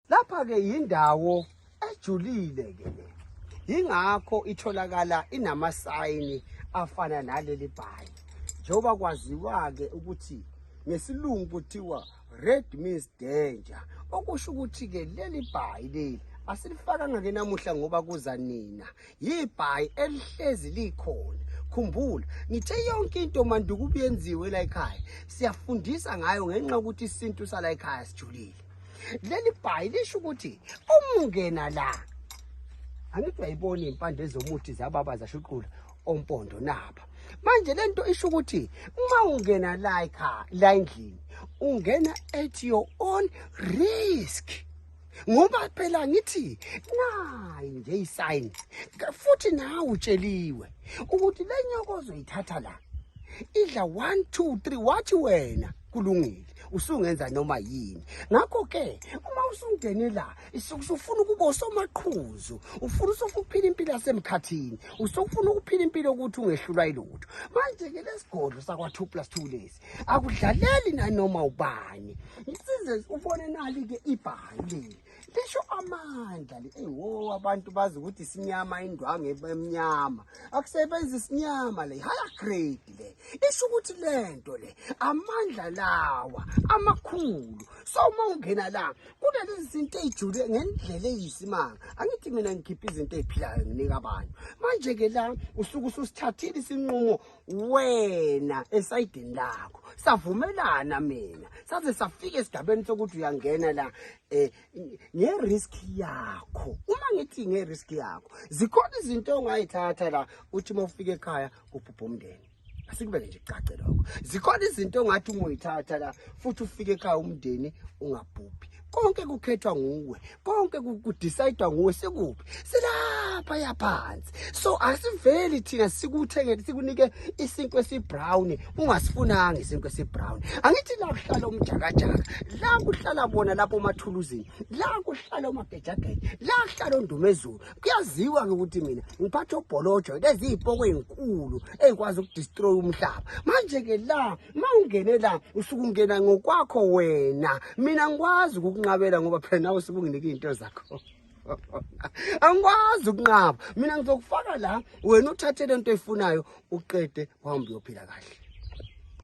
Lapha ke yindawo ejulile ke le. Yingakho itholakala inamasayini afana naleli bhayi. Njengoba kwaziwa ke ukuthi ngesilungu kuthiwa red means danger. Okusho ukuthi ke leli bhayi leli asilifakanga ke namuhla ngoba kuza nina yibhayi elihlezi likhona khumbula ngithe yonke into manduku ubuyenziwe la ekhaya siyafundisa ngayo ngenxa ukuthi isintu sala ekhaya sijulile leli bhayi lisho ukuthi umungena la angithi uyayibona impande zomuthi zababa zashuqula ompondo naba manje lento isho ukuthi uma ungena la ekhaya la endlini ungena at your own risk ngoba phela ngithi nayi nje isayini futhi nawe utsheliwe ukuthi le nyoko ozoyithatha la idla 1 2 3 wathi wena kulungile usungenza noma yini ngakho ke uma usungene la usufuna ukuba usomaqhuzu ufuna usofuphila impilo yasemkhathini usofuna ukuphila impilo ukuthi ungehlulwa ilutho manje ke lesigodlo sakwa 2 plus 2 lesi akudlaleli nanoma ubani ngisize ubone nali ke ibhali lisho amandla le ewo abantu bazi ukuthi sinyama indwangu emnyama akusebenzi sinyama le haya grade le isho ukuthi lento le amandla lawa amakhulu so uma ungena la kunalezi zinto eyijule ngendlela eyisimanga angithi mina ngikhipha izinto eziphilayo nginika abantu manje ke la usuke ususithathile isinqumo wena esayidini lakho savumelana mina saze safika esigabeni sokuthi uyangena la eh ngerisk yakho uma ngithi ngerisk yakho zikhona izinto ongayithatha la uthi uma ufika ekhaya kubhubha umndeni asikubeke nje kucace lokho zikhona izinto ongathi uma uyithatha la futhi ufike ekhaya umndeni ungabhubhi konke kukhethwa nguwe konke kudecide nguwe sikuphi silapha yaphansi so asiveli thina sikuthenge sikunike isinkwe esibrown ungasifunanga isinkwe esibrown angithi la kuhlala umjakajaka la kuhlala bona lapho mathuluzini la kuhlala umagejageja la kuhlala ondumezulu kuyaziwa ke ukuthi mina ngiphatha obholojo lezi izipoko ezinkulu ezikwazi ukudestroy umhlaba manje ke la uma ungene la usuke ungena ngokwakho wena mina ngikwazi ukukunqabela ngoba phela nawe usuke unginike izinto zakho angikwazi ukunqaba mina ngizokufaka la wena uthathe lento oyifunayo uqede wahambe uyophila kahle